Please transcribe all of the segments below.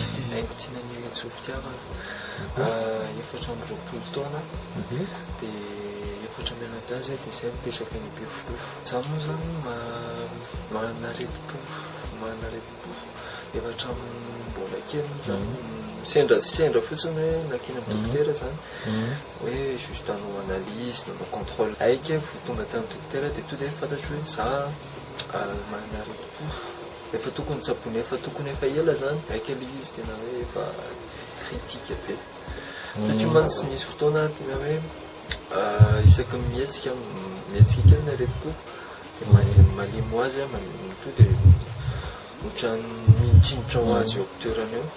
Ratsinaiko Tinanela Tsovidiavana, efatra amby roapolo taona, dia efatra mianadahy izahay, dia izahay mipetraka any Bevohoka. Izaho moa izany maha-aretim-po, maha-aretim-po. efa hatramin'ny mbola kely moa zany sendra sendra fotsiny hoe nakina amin'ny dokotera zany hoe juste hanao analyse nanao contrôle aika vao tonga tamin'ny dokotera dia tonga dia fantatro hoe za manana aretim-po efa tokony tsaboina efa tokony efa ela zany aika le izy tena hoe efa critique be satria mantsy nisy fotoana tena hoe Isaky ny mihetsika mihetsika kely ny aretim-po dia malemy malemy ho azy an, to dia ohatran'ny mitsimotra ho azy eo amin'ny toerana eo.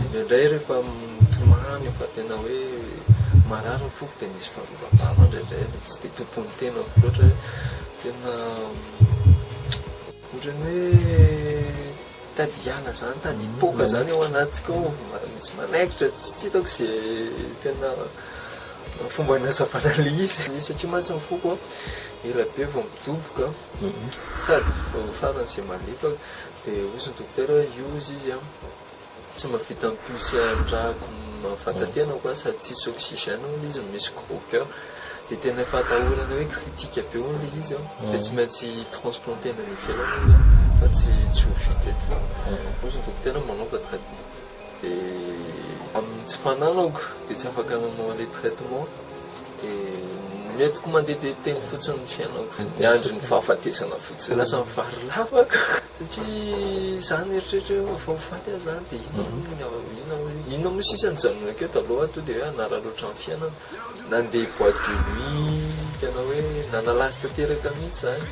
Indraindray rehefa mitomany efa tena hoe marary ny foko dia misy fanovabava indraindray dia tsy dia tompon'ny tenako loatra hoe tena ohatran'ny hoe Mitady hiala zany mitady hipoaka zany ao anatiko ao misy manaikitra tsy hitako ze tena fomba anazavana le izy de satria mantsy ny foko ela be vao midoboka sady vao farany ze malefaka de ozy ny dokotera hoe iozy izy an. Tsy mba vita mipioce andrako fahatatenako an sady tsisy oxygène hono izy no misy gros coeur de tena efa atahorana hoe critique be hono le izy an de tsy maintsy transplanter any ivelany hono an fa tsy tsy ho vita eto hozy ny dokotera hoe manaova traitement de amin'ny tsy fananako de tsy afaka nanao an'le traitement de ny entiko mandeha de teny fotsiny ny fiainako de andrin'ny fahafatesana fotsiny de lasa mivary lava ko. Satria za nieritreritra hoe vao faty aho zany dia inona moa ny ao, inona moa, inona moa sisa nijanona akeo taloha to dia hoe hanara loatra ny fiainana. Nandeha boîte de nuit tena hoe nanala azy tanteraka mihitsy zany.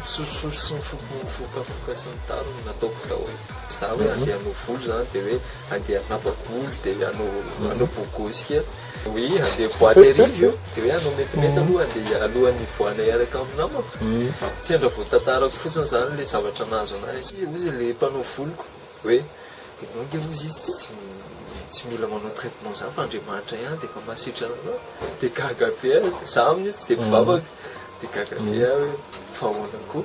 Sosososy sy mifoka mifokafoka sy ny tariny no nataoko tao. Za hoe handeha hanao volo zany dia hoe handeha hanapa-bolo dia hanao hanao bogosy kely. Oui, handeha boîte hariva io, dia hoe hanao metimety aloha handeha alohan'ny hivoahana hiaraka amin'ny namako. Sendra voatantarako fotsiny izany ilay zavatra nahazo an'ahy, satria hozy ilay mpanao voloko hoe ianao ange hozy izy tsy tsy mila manao traitement izany fa Andriamanitra ihany dia efa mahasitrana anao. Dia gaga be aho, izaho amin'io tsy dia mpivavaka, dia gaga be aho hoe fa ahoana koa.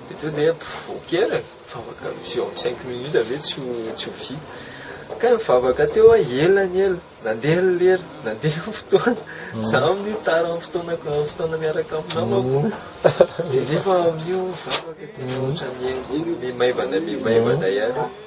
Toy ny hoe ok ary e, mivavaka misy eo amin'ny cinq minutes ve tsy ho tsy ho vita. Kay mivavaka teo aho ela ny ela, nandeha ny lera, nandeha ny fotoana, za amin'io tara amin'ny fotoanako amin'ny fotoana miaraka amin'ny namako, dia nefa amin'io mivavaka dia ohatran'ny miha miha maivana miha maivana ihany.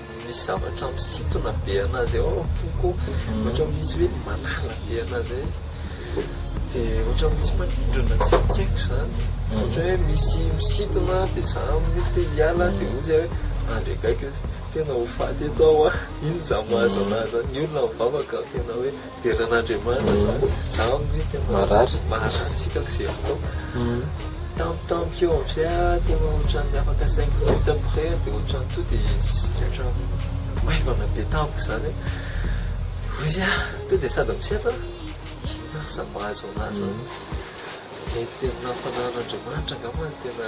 Misy zavatra misintona be anazy ao am-poko ao, ohatra misy hoe manala be anazy zay, dia ohatra misy manindrona tsy tsy haiko izany, ohatra hoe misy misintona dia za mety te hiala dia hoy zay hoe andry akaiky, tena ho faty eto aho an, iny za mahazo anazy zany, ny olona mivavaka tena hoe. Deran'Andriamanitra zany zaho anie tena marary marary tsy hitako ze atao tampotampoka eo am zay ah tena ohatran'ny afaka cinq minutes après ah de ohatran'ny to de ohatran'ny maivana be tampoka zany ah de ozy ah to de sady misedra ah inona ary zany mahazo anah zany mety tena fananan'Andriamanitra angamba no tena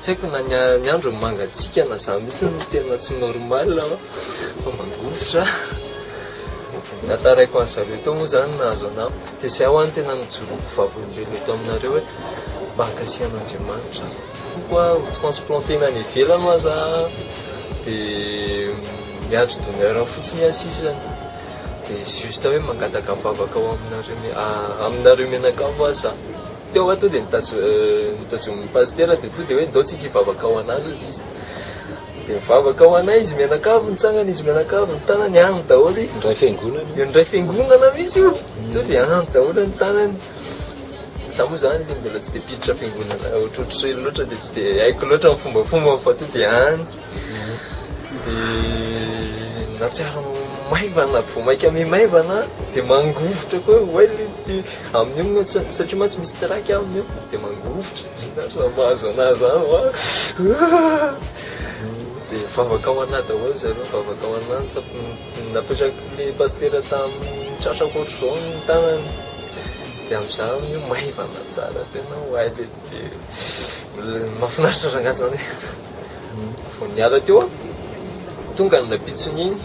Tsy haiko na ny andro mangatsiaka na za mihitsy no tena tsy normal an, fa mangovitra. Tantaraiko an'i zareo teo moa zany nahazo anah. Dia zay ho any tena nijoroako vavolombelona eto aminareo hoe mba ankasihan'Andriamanitra aho. Koa ho transplanter-na any ivelany ho aza aho dia miandry donneur fotsiny aho sisa. Dia juste hoe mangataka vavaka ho aminareo, aminareo mianakavy ho aza aho. Teo aho to dia notazonin'ny pasitera dia to dia hoe ndao tsika hivavaka ho an'azy hozy izy dia nivavaka ho anay izy mianakavy nitsangana izy mianakavy ny tanany any daholo izy ndray fiangonana io ndray fiangonana mihitsy io to dia any daholo ny tanany za moa zany dia mbola tsy dia mpiditra fiangonana ohatrohatr'ireny loatra dia tsy dia haiko loatra ny fombafomba fa to dia any dia nahatsiaro maivana, vao mainka miha-maivana dia mangovitra koa hoe well ity amin'io mantsy satria mantsy misy trac amin'io dia mangovitra, inona ary izany mahazo anà izany wa dia vavaka ho anà daholo zareo, vavaka ho anà ny tsampy, napetraky ilay pasitera tamin'ny tratrako ohatr'izao ny tanany dia amin'izay aho miha-maivana tsara tena well ity, mahafinaritra rangahy izany e. vao niala teo aho, vao tonga ny rabitsiny iny,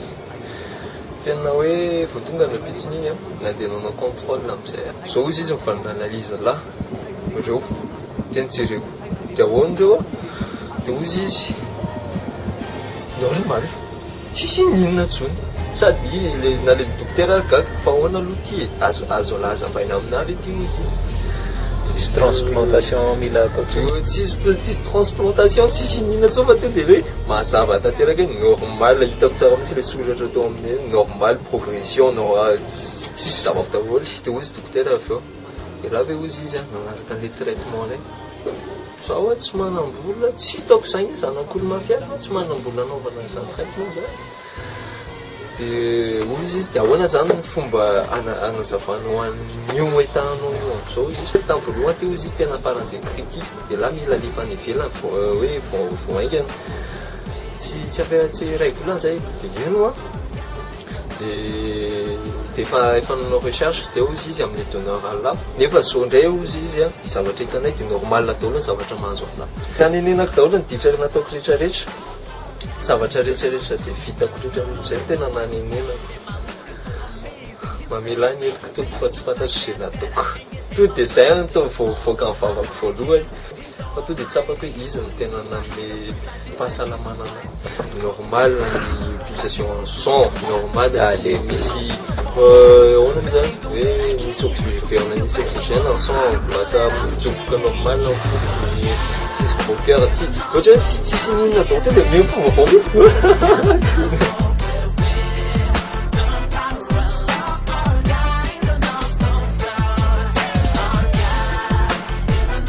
tena hoe vao tonga ny rabitsiny iny na dia nanao contrôle amin'izay aho, zao hozy izy mifanome analyse lahy reo, teny jereko dia ahoana reo, dia hozy izy normal. Tsy hino inona tsony. Sady le na le dokotera ary gaga fa ahoana aloha ity e? Azo azo azavaina aminah ve ity ozy izy? Tsisy transplantation mila atao tsony. Io tsisy tsisy transplantation tsy hino inona tsony fa tonga de hoe mazava tanteraka hoe normal hitako tsara mintsy le soratra tao aminy hoe normal progression nor- a ts- tsisy zava daholo de ozy dokotera avy eo, de raha ve ozy izy an manaraka anle traitement reny. Za oa tsy manambola tsy hitako zany hoe zanakolo mafia zany tsy manambola anaovana an'izany traitement zany de hoy izy izy de ahoana zany ny fomba ana- anazavana ho an'io etanao io amzao izy fa tam voalohany ty hoy izy izy tena faran'izay critique elah mila alefa any ivelany vao hoe vao vao haingana tsy tsy ampela tsy iray volana zay de ino an. Dia efa efa nanao recherche zay ozy izy amle donneur Allah nefa zo ndray ozy izy a ny zavatra hitanay dia normal daholo ny zavatra mahazo Allah Nanenenako daholo ny ditra nataoko rehetra rehetra zavatra rehetra rehetra zay vitako rehetra rehetra zay tena nanenenako Mamela ahy ny heloko Tompo fa tsy fantatro ze nataoko Tonga dia zay no tonga vao nivoaka ny vavako voalohany Fa tonga dia tsapako hoe izy no tena nanome fahasalamana anahy. Normal ny pulsation sang, normal tsy dia misy ahoana moa izany hoe misy oxy- miverina misy oxygène ny sang ao, lasa midoboka normal ny foko, ny tsisy gros coeur, tsy ohatra hoe tsy tsisy ny inona daholo tonga dia miha mifoha vaovao mihitsy.